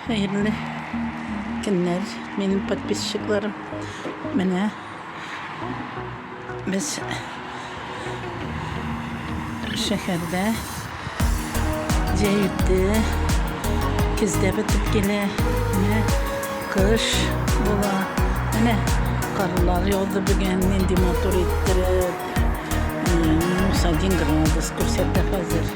Хәерле көннәр, минем подписчикларым. Менә без шәһәрдә җәйде, көздә бетеп килә. Менә кыш була. Менә карлар яуды бүген, нинди матур иттереп. Минус один градус күрсәтә хәзер.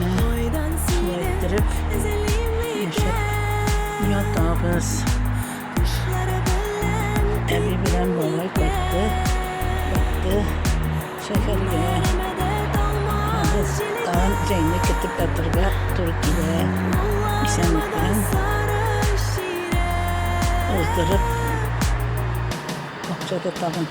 Менә шулай иттереп яшәп ятабыз. Әби белән бабай кайтты, кайтты шәһәргә. Без тагын җәйне көтеп ятарга туры килә. Исәнлек белән уздырып, акча да тагын